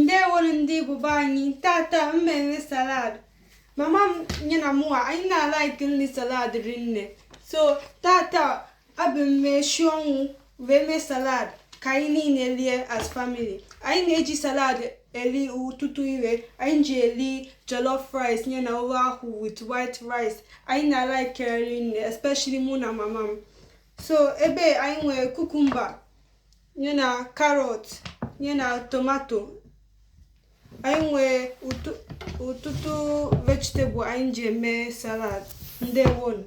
ndewonu ndị Igbo be anyị tata m mere salad mama m nye na mụwa anyị na-alike nri salad rinne so tata abịa m meshi ọnwụ wee mee salad ka anyị niile lie as family anyị na-eji salad eli ọtụtụ ive anyị ji eli jollof rice nye na ofe akwụ with white rice anyị na-alike rinne especially mụ na mama m so ebe anyị nwere cucumber nye na carrot nye na tomato anyị nwee ọtụtụ vegetable anyị ji eme salad ndewonu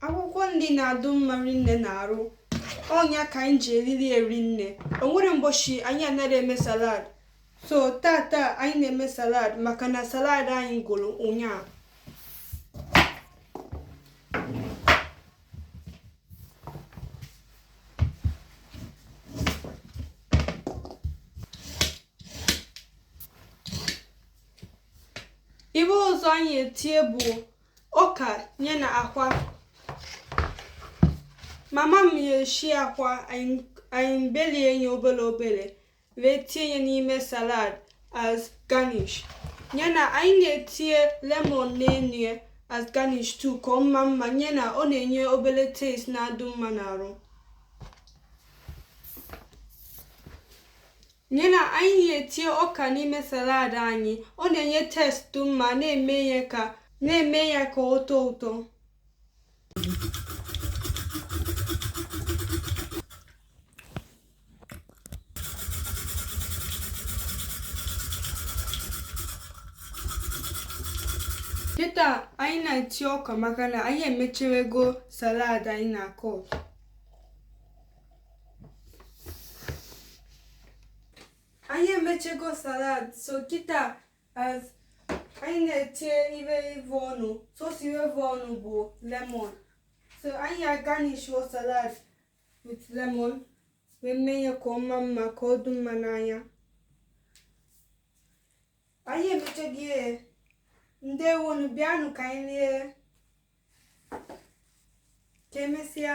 akwụkwọ nri na-adụ mma rinne n'arụ ọ nya ka anyị ji elili ya rinne o nwerọ mbọchị anyị anaghị eme salad so tata anyị na-eme salad maka na salad anyị gwụrụ ụnyaahụ ive ọzọ anyị etie bụ ọka nye na akwa mama m ya eshi akwa anyị belie ya obele obele wee tie ya n'ime salad as garnish ya na anyị na-etie lemon n'enu ya as garnish too ka ọ maa mma ya na ọ na-enye obele taste na-adụ mma n'arụ nye na anyị na-etie ọka n'ime salad anyị ọ na-enye taste dụ mma na-eme ya ka ọ tọọ ụtọ Kịta anyị na-etie ọka maka na anyị emechewego salad anyị na-akọ. Anyị emechego salad so kịta as anyị na-etie ive ọnụ sọsọ ive ọnụ bụ lemon so anyị agarnishuo salad with lemon wee mee ya ka ọ maa mma ka ọ dị mma n'anya anyị emechego ndewonu bịanụ ka anyị lie ka emesịa